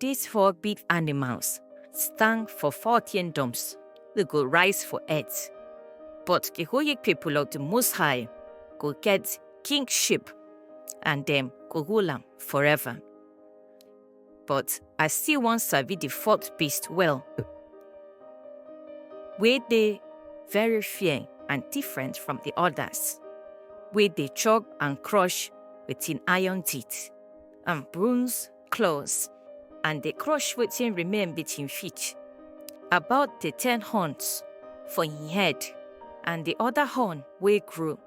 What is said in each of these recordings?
These four big animals stand for four kingdoms they go rise for earth. But the holy people of the Most High go get kingship and them go rule am forever. But I still wan sabi the fourth beast well. Wey dey very fair and different from the others. Wey dey chop and crush with im iron teeth and bronze close and dey crush wetin remain with him feet. About the ten horns for him head and the other horn wey grow,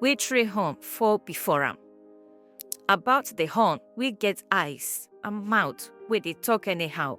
wey three horn fall before am. About the horn wey get eyes and mouth wey dey talk anyhow.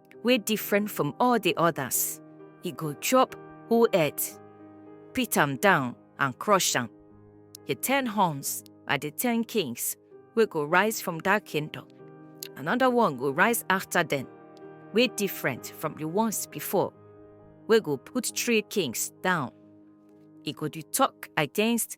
wey different from all the others. He go chop whole earth, pit am down and crush am. The ten horns are the ten kings wey go rise from that kingdom. Another one go rise after them, wey different from the ones before, wey go put three kings down. He go dey talk against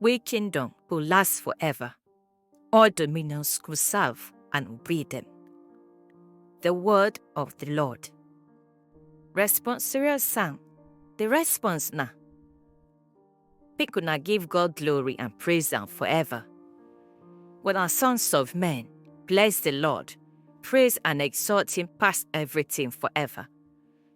wey kingdom go last forever. All dominions go serve and obey them. The word of the Lord. Responsorial psalm. The response na make una give God glory and praise am forever. When our sons of men bless the Lord, praise and exalt him past everything forever.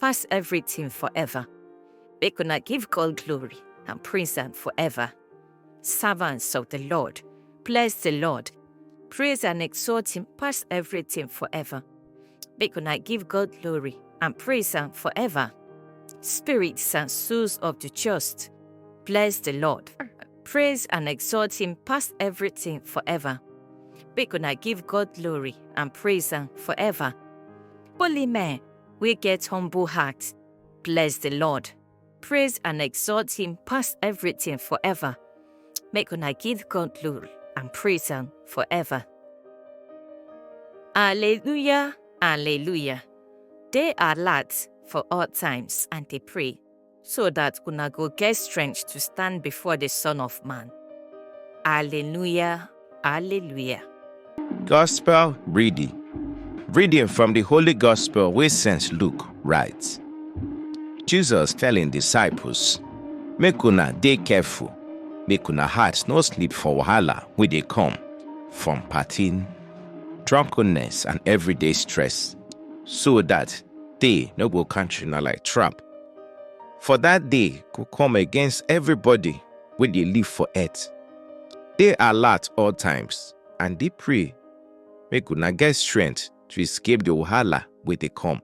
pass everything forever. Make una give God glory and praise am forever. Servants of the Lord, bless the Lord, praise and exalt him pass everything forever. Make una give God glory and praise am forever. Spirits and souls of the just, bless the Lord, praise and exalt him pass everything forever. Make una give God glory and praise am forever. Holy men, wey get humble heart. Bless the Lord. Praise and exalt him past everything forever. Make una give God glory and praise him forever. Alleluia, alleluia. Dey alert for all times and dey pray. so that una go get strength to stand before the Son of Man. Alleluia, Alleluia. Gospel reading. Reading from the Holy Gospel where St. Luke writes. Jesus telling disciples, Make una dey careful, make una heart no sleep for wahala wey dey come from partying, drunkenness and everyday stress, so that they no go catch una like trap. For that day go come against everybody wey dey live for earth. Dey alert all times and dey pray make una get strength to escape the wahala wey dey come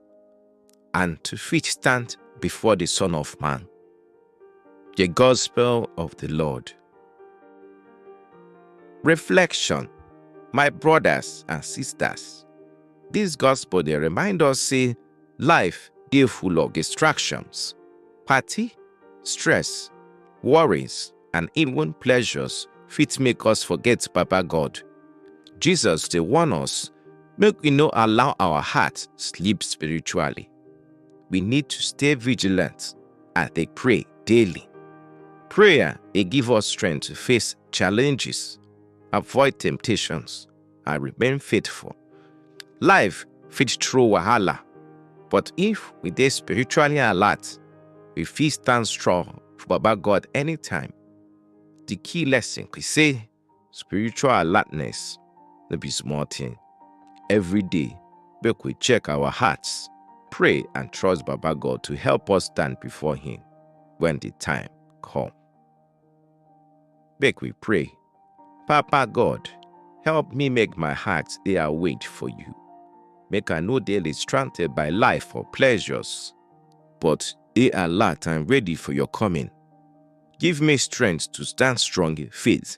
and to fit stand before the Son of Man. The Gospel of the Lord. Reflection My brothers and sisters, this gospel dey remind us say Life dey full of distractions, party, stress, worries and even pleasures fit make us forget Baba God. Jesus dey warn us make we no allow our heart sleep spiritually. We need to stay vigilant and dey pray daily. Prayer dey give us strength to face challenges, avoid temptations, and remain faithful. Life fit throw wahala, but if we dey spiritually alert, we fit stand strong for Baba God anytime. The key lesson be say spiritual alertness no be small thing. Every day, make we check our hearts, pray and trust Baba God to help us stand before him when the time come. Make we pray. Papa God, help me make my heart dey awake for you. Make I no dey distracted by life or pleasures, but dey alert and ready for your coming. Give me strength to stand strong in faith